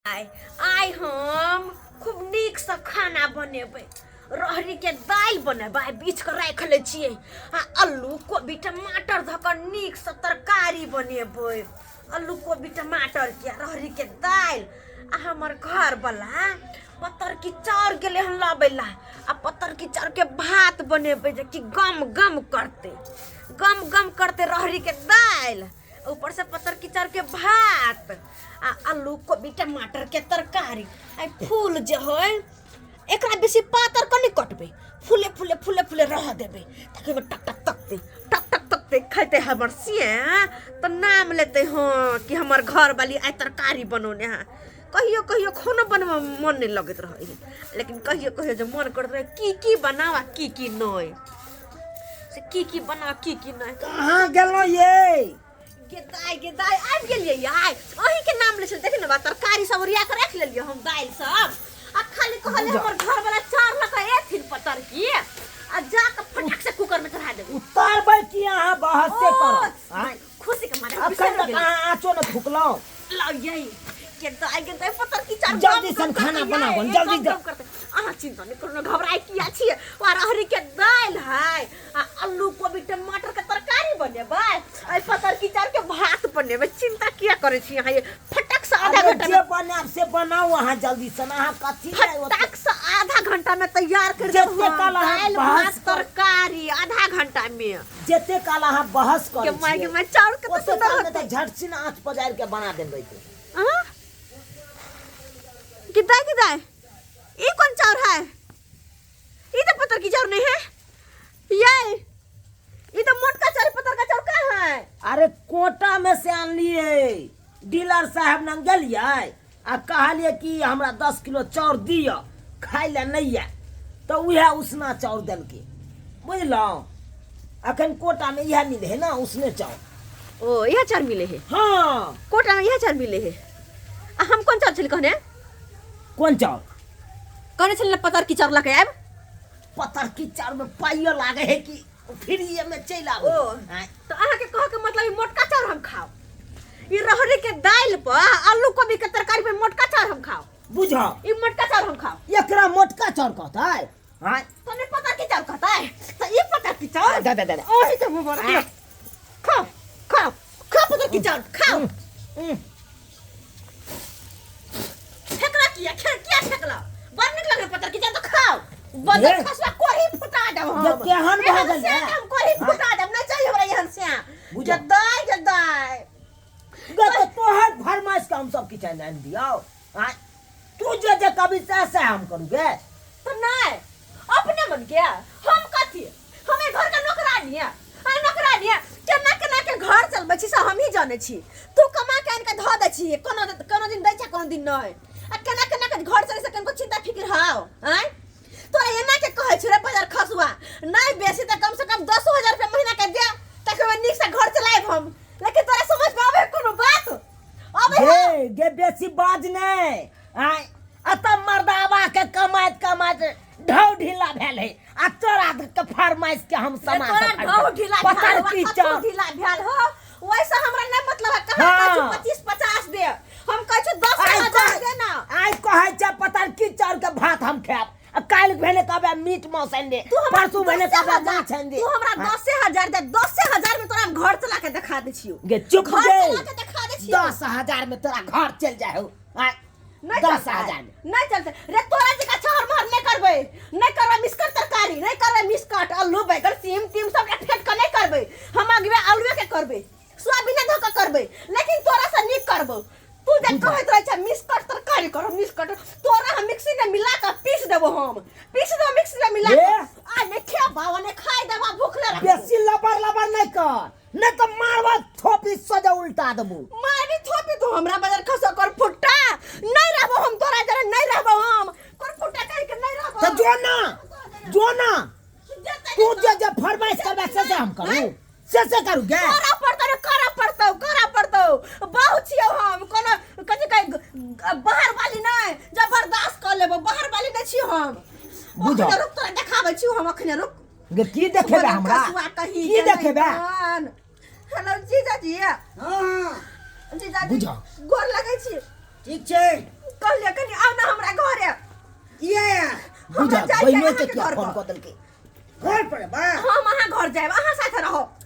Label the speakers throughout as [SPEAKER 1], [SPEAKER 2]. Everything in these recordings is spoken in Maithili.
[SPEAKER 1] आइ आइ हम खूब नीकसँ खाना बनेबै रहरीके दालि बनेबै आइ बीछ कऽ राखि लै छियै आ अल्लू कोबी टमाटर धऽ कऽ नीकसँ तरकारी बनेबै अल्लू कोबी टमाटरके आ रहरीके दालि आ हमर घरवला पतरकी चाउर गेलै हन लबै लए आ पतरकी चाउरके भात बनेबै जेकि गम गम करतै गम गम करतै रहरीके दालि ऊपर से पत्थर किचर के भात आ आलू कोबी टमाटर के तरकारी आ फूल जे है एकरा बेसी पातर कनी कटबे फूले फूले फूले फूले रह देबे ताकि ओमे टक टक तकते टक टक तकते खैते हमर सिया तो नाम लेते हाँ कि हमर घर वाली आइ तरकारी बनौने हाँ कहियो कहियो खाना बनबऽ मे मन नहि लगैत रहै है लेकिन कहियो कहियो जे मन करैत रहै की की बनावा की की नहि से की की बना की की नहि कहाँ गेलहुँ ये
[SPEAKER 2] गेदाय
[SPEAKER 1] गेदाय आबि गेलियै आइ अहीं के नाम ले छल देख ने बा तरकारी सब ओरिया के राखि लेलियै हम दालि सब आ खाली कहले जा। हमर घर वाला चार लक एथिन पतर की आ जा के फटक से कुकर में चढ़ा देबो उतारबै कि अहाँ
[SPEAKER 2] बहसे ओ, करब आँय? खुशी के मारे अब
[SPEAKER 1] कल तक आँचो
[SPEAKER 2] न फुकलो लग जाई
[SPEAKER 1] के तो आई के तो पतर की चार जल्दी सन खाना बनाबो,
[SPEAKER 2] जल्दी जा। अहाँ
[SPEAKER 1] चिंता नहीं करो ना घबराई की अछि और अहरी के दाल है आ आलू कोबी टमाटर के तरकारी बनेबै आई पतर की चार के भात बनेबै चिंता किया करे छी अहाँ ये फटक से आधा अरे घंटा जे में बनाब से बनाओ
[SPEAKER 2] अहाँ जल्दी सन अहाँ कथी ले ओते- फटक से
[SPEAKER 1] आधा घंटा में तैयार कर जते देब हम। कल अहाँ दालि भात भात पर- तरकारी आधा घंटा में जते काल अहाँ
[SPEAKER 2] बहस के करै माय के छियै माय चाउर कते
[SPEAKER 1] ओते सुंदर काल मे होते तऽ झटसिन आँच पजारि
[SPEAKER 2] के बना देने रहितै हाँ?
[SPEAKER 1] कितना है, कितना है? ये कौन चाउर है ये तो पत्थर की चाउर नहीं है ये ये तो मोटका चाउर पत्थर का चाउर कहाँ है अरे कोटा
[SPEAKER 2] में से आनलियै डीलर साहब लग गेलियै आ कहलिए कि हमरा दस किलो चाउर दिअ खाइ लए नहि यऽ तऽ उएह उसना चाउर देलकै बुझलहुँ अखन कोटामे इएह मिले है ना उसने चाउर ओ इएह चाउर मिले है
[SPEAKER 1] हाँ कोटामे
[SPEAKER 2] इएह चाउर मिले
[SPEAKER 1] है आ हम कोन चाउर छली कहने कोन
[SPEAKER 2] चाउर कहने
[SPEAKER 1] छली पतर की चाउर लऽ के आयब पतर की
[SPEAKER 2] चाउरमे पाइयो लागे है कि ओ फिर ये में चल आबो ओ। आय, तो अहाँ के
[SPEAKER 1] कह के मतलब ई मोटका चाउर हम खाओ ई रहरी के दाल पर आलू कोबी के तरकारी पर मोटका चाउर हम खाओ बुझो ई मोटका
[SPEAKER 2] चाउर हम
[SPEAKER 1] खाओ एकरा मोटका चाउर
[SPEAKER 2] कहता है आय, तो नहीं पता की चाउर
[SPEAKER 1] कहता है तो ई पता की चाउर दा दा दा दा। और ही तो वो
[SPEAKER 2] बोला खाओ
[SPEAKER 1] खाओ खाओ पता की चाउर खाओ उम, फेकला किया खेल किया फेकला बड़ निक लगल पत्थर के जा तो खाओ ए। बदल खसवा कोही फुटा देब हम ये केहन भऽ एहन गेल
[SPEAKER 2] से है? हम कोही हाँ। फुटा देब
[SPEAKER 1] नहीं चाहिए हमरा एहन से बुझल। जदाई जदाई गे
[SPEAKER 2] तो तोहर फरमाइश के हम सब किछु आनि आनि दियौ आँय? तू जे जे कभी सएह सएह हम करू गे तो नहीं
[SPEAKER 1] अपने मन के हम कथी हम एहि घरके नौकरानी है अरे नौकरानी है केना केना के घर चलबै छी से हमही जानै छी तू कमा के आनिके धऽ दै छी कोनो कोनो दिन दै छै कोनो दिन नहि आ केना केना के घर चलै से कनिको चिन्ता फिकिर हाउ आँय तोरा एना के कहै छी रे बाजार खसुआ नहि बेसी तऽ कम से कम दसो हजार रुपया महीना के दे ताकि ओहिमे नीकसँ घर चलायब हम लेकिन तोरा समझमे आबै है कोनो बात आबै है गे
[SPEAKER 2] गे बेसी बाज नहि आय अतऽ मर्दावा के कमाइत कमाइत ढौ ढीला भेल है आ तोरा के फरमाइश के हम समा तोरा ढौ ढीला पता
[SPEAKER 1] की चौ
[SPEAKER 2] ढीला भेल हो
[SPEAKER 1] वैसे हमरा नहीं मतलब है कहां हाँ। का 25 50 दे हम कह छु 10000 दे ना आज कहै छ
[SPEAKER 2] पता की चौर के भात हम खाब काल भेने कहबे मीट मांस आनि दे परसू भेने कहबे माछ आनि दे तू हमरा 10000 हाँ।
[SPEAKER 1] दे 10000 में तोरा घर चला के दिखा दे छियो गे चुप घर चला के
[SPEAKER 2] दिखा
[SPEAKER 1] दे छियो 10000 में तोरा घर
[SPEAKER 2] चल जाए हो नहीं दस चलता
[SPEAKER 1] है। हजार में।
[SPEAKER 2] नहीं चलते रे तोरा
[SPEAKER 1] जगह चहर महर नहीं करबे नहीं करबे मिसकर तरकारी नहीं करबे मिसकट आलू बैगन सीम तीम सब फेट के नहीं करबे हम अगवे आलूए के करबे सोयाबीन धो के करबे लेकिन तोरा से नहीं करबो तू जे कहत रहे छै मिसकट तरकारी करो मिसकट तोरा हम मिक्सी में मिला के पीस देबो हम पीस देबो मिक्सी में मिला के ए! आ ने खेबा ने खाई देबा भूखले रहबो बेसी लबर लबर
[SPEAKER 2] नहीं कर नहि तऽ मारवा थोपी सजा उल्टा देबो मारी थोपी तो
[SPEAKER 1] हमरा बजर खसो कर फुट्टा नहीं रहबो हम तोरा जरे नहीं रहबो हम कर फुट्टा कह के नहीं रहबो तो जो ना
[SPEAKER 2] जो ना तू जे जे फरमाइश करबे से से हम करू से से करू गे करा पड़तो रे करा पड़तो
[SPEAKER 1] करा पड़तो बहु छियो हम कोनो कथि कह बाहर वाली नहीं जबरदस्त कर लेबो बाहर वाली नहीं छियो हम बुझो रुक
[SPEAKER 2] तोरा देखाबै
[SPEAKER 1] छियो हम अखने रुक गे की देखेबे
[SPEAKER 2] हमरा कसुआ कहीं की के नहीं देखेबे बन। हेलो
[SPEAKER 1] जीजा जी हाँ हाँ
[SPEAKER 2] जीजा जी
[SPEAKER 1] बुझा।
[SPEAKER 2] गोर लगै
[SPEAKER 1] छी
[SPEAKER 2] ठीक
[SPEAKER 1] छै कहलिए कनी आउ ना हमरा घरे किए हमरा
[SPEAKER 3] बुझा जाइके
[SPEAKER 2] बहिनो अहाँके के क्या
[SPEAKER 1] घर फोन पर। कऽ
[SPEAKER 2] देलकै घर पर
[SPEAKER 3] बा हम अहाँ घर जाएब
[SPEAKER 1] अहाँ साथे रहब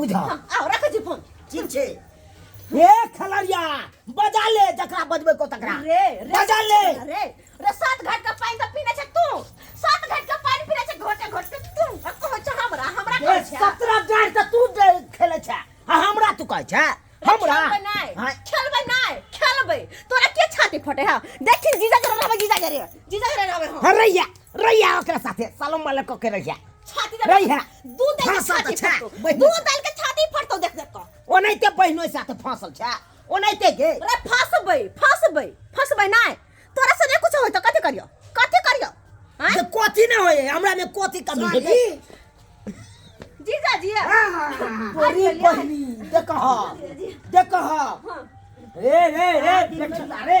[SPEAKER 1] बुझा हम आउ
[SPEAKER 2] रखै छी फोन
[SPEAKER 1] ठीक छै
[SPEAKER 3] हे
[SPEAKER 2] खलरिया बजा ले जकरा बजबै को तकरा रे रे बजा ले
[SPEAKER 1] रे
[SPEAKER 2] रे सात
[SPEAKER 1] घाट का पानी त पीने छै तू सात घाट का पानी पीने छै घोटे घोटे तू आ कहो छ हमरा हमरा हे कहो छ सत्रह
[SPEAKER 2] गाड़ तऽ
[SPEAKER 1] तू जे
[SPEAKER 2] खेले छै आ हमरा तू कहै छै हमरा खेलबै नै हाँ, खेलबै
[SPEAKER 1] नै खेलबै तोरा के छाती फटे हा देखी जीजा जरा रहबै जीजा जरे जीजा जरे रहबै हम हाँ, रैया रैया
[SPEAKER 2] ओकरा साथे सालो माले कऽ के रैया छाती जरा रैया
[SPEAKER 1] दू
[SPEAKER 2] दल के भाषा
[SPEAKER 1] छाती तऽ छै,
[SPEAKER 2] फटतौ
[SPEAKER 1] बहिन।
[SPEAKER 2] दू दल के छाती
[SPEAKER 1] फटतौ देख देख कऽ ओनाहिते बहिनो साथे
[SPEAKER 2] फाँसल छै ओनाहिते गे रे फसबै
[SPEAKER 1] फसबै फसबै नहि तोरा से नहि कुछ होय तऽ कथी करियो कथी करियो आँय? जे कथी नहि
[SPEAKER 2] होइए हमरामे कथी कमी है जी
[SPEAKER 1] जीजा जी तोरी
[SPEAKER 2] बहिनी देखह देखह रे रे रे देखह रे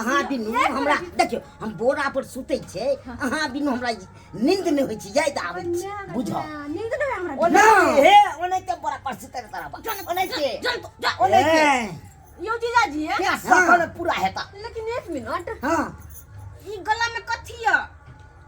[SPEAKER 1] अहाँ बिनु
[SPEAKER 3] हमरा देखियो हम बोरा पर सुते छे अहाँ बिनु हमरा नींद नहीं होई छी याद आवे छी बुझो नींद
[SPEAKER 2] नहीं
[SPEAKER 1] हमरा ओने हे ओने
[SPEAKER 2] के बोरा पर सुते तारा बा ओने के जल तो जा ओने के यो जीजा
[SPEAKER 1] जी है क्या सफल पूरा
[SPEAKER 2] हेता लेकिन एक मिनट
[SPEAKER 1] हां
[SPEAKER 3] ई गला
[SPEAKER 1] में कथी है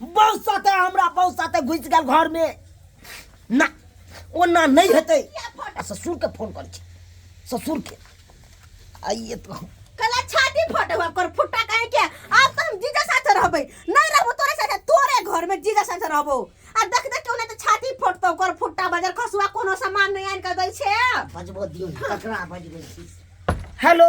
[SPEAKER 2] बहू साथे हमरा बहू साथे घुसि गेल घरमे ना ओना नहि हेतै आ ससुरके फोन करै छी ससुरके आइए तो कला छाती
[SPEAKER 1] फटे हुआ कर फुट्टा कहे के अब तो हम जीजा साथे रहबे नहीं रहबो तोरे साथे तोरे घर में जीजा साथे रहबो आ देख देख के ओने तो छाती फटतो कर फुट्टा बजर खसुआ कोनो सामान नहीं आन के दै छे बजबो दियो
[SPEAKER 3] ना, ककरा बजबै छी हेलो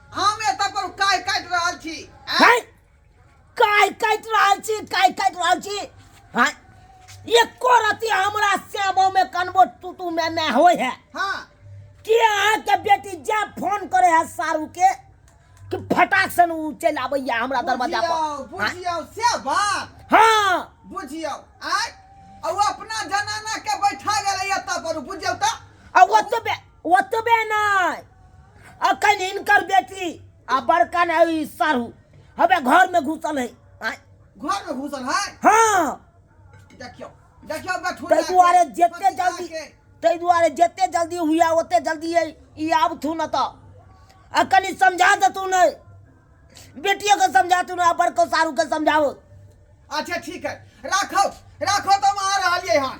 [SPEAKER 4] हम एतऽ पर काय काटि
[SPEAKER 2] रहल छी हैं काय काटि रहल छी काय काटि रहल छी हैं एको रति हमरा श्यामो में कनबो टूटू में न होय है हाँ
[SPEAKER 4] कि अहाँ
[SPEAKER 2] के बेटी जा फोन करे है सारू के कि फटाक से उ चल आबैया हमरा दरवाजा पर बुझियो से
[SPEAKER 4] बात हाँ
[SPEAKER 2] बुझियो आय
[SPEAKER 4] और अपना जनाना के बैठा गेलै एतऽ पर बुझियो तऽ और ओतबे
[SPEAKER 2] ओतबे नहि अखन हिनकर बेटी आ बड़का ने ई सारू हबे घर में घुसल है आय, घर में घुसल
[SPEAKER 4] है हाँ
[SPEAKER 2] देखियो
[SPEAKER 4] देखियो बैठू ताहि दुआरे जते
[SPEAKER 2] जल्दी ताहि दुआरे जते जल्दी हुआ ओते जल्दी है ई आब थू न तऽ आ कनि समझा देतू ने बेटियो के समझा तू ने बड़को सारू के समझाओ अच्छा
[SPEAKER 4] ठीक है राखो राखो तो हम आ रहलिए हन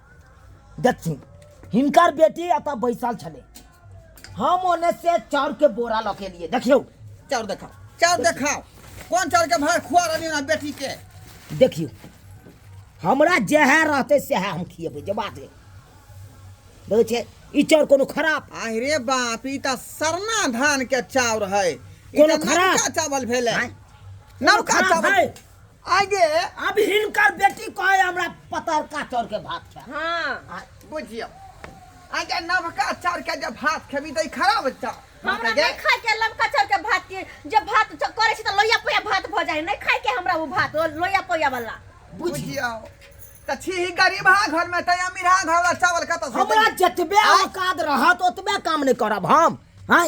[SPEAKER 2] देखथिन हिनकर बेटी एतऽ बैसल छलै हम ओने से चाउर के बोरा लऽ के लिए देखियौ चाउर देखाओ
[SPEAKER 4] चाउर देखाओ कोन चाउर के भाड़ खुआ रहली ना बेटी के देखियौ
[SPEAKER 2] हमरा जएह रहतै सएह हम खियेबै जे बात है देखै छियै ई चाउर कोनो खराब आहि रे बाप ई
[SPEAKER 4] तऽ सरना धान के चाउर है कोनो खराब
[SPEAKER 2] चावल भेलै नौका
[SPEAKER 4] चावल आगे अब हिनकर
[SPEAKER 2] बेटी कहे हमरा पतरका चाउर के भात खा हाँ बुझियो
[SPEAKER 4] आगे नवका चाउर के जब भात खेबी तो खराब होता हमरा नहीं खाए के
[SPEAKER 1] लमका चाउर के भात के जब भात च- करे छी त लोया पोया भात भ जाए नहीं खाए के हमरा वो भात वो लोया पोया वाला बुझियो
[SPEAKER 4] तो छी ही गरीब हा घर में तय अमीर हा घर वाला चावल कत हमरा जतबे
[SPEAKER 2] औकात रहत ओतबे काम नहीं करब हम हैं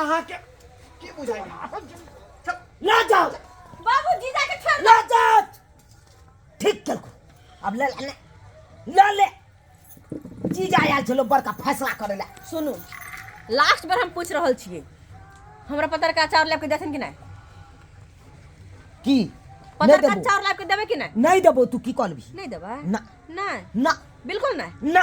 [SPEAKER 4] अहाँके की बुझाइ ना जाओ
[SPEAKER 2] बाबू जीजा
[SPEAKER 1] के छोड़ ना जाओ
[SPEAKER 2] ठीक कर अब ले ले ले ले जीजा आयल छलो बड़का फैसला करे ले सुनू
[SPEAKER 1] लास्ट बार हम पूछ रहल छिए हमरा पतर का अचार लेके देथिन कि नहीं की
[SPEAKER 2] पतर का अचार
[SPEAKER 1] लेके देबे कि नहीं नहीं देबो तू की कहलबी
[SPEAKER 2] नहीं देबा ना
[SPEAKER 1] ना
[SPEAKER 2] ना
[SPEAKER 1] बिल्कुल
[SPEAKER 2] नहीं ना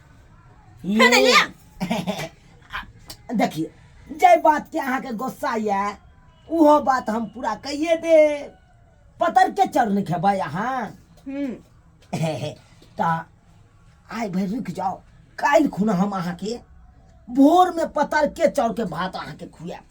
[SPEAKER 1] फेर एलियै
[SPEAKER 2] देखिए जे बात के अहा के गोस्सा ये उहो बात हम पूरा कहिए दे पतर के चर नहीं खेबे अहा हम्म। तो आई भाई रुक जाओ कल खुना हम अहा के भोर में पतर के चौर के भात अहा के खुआ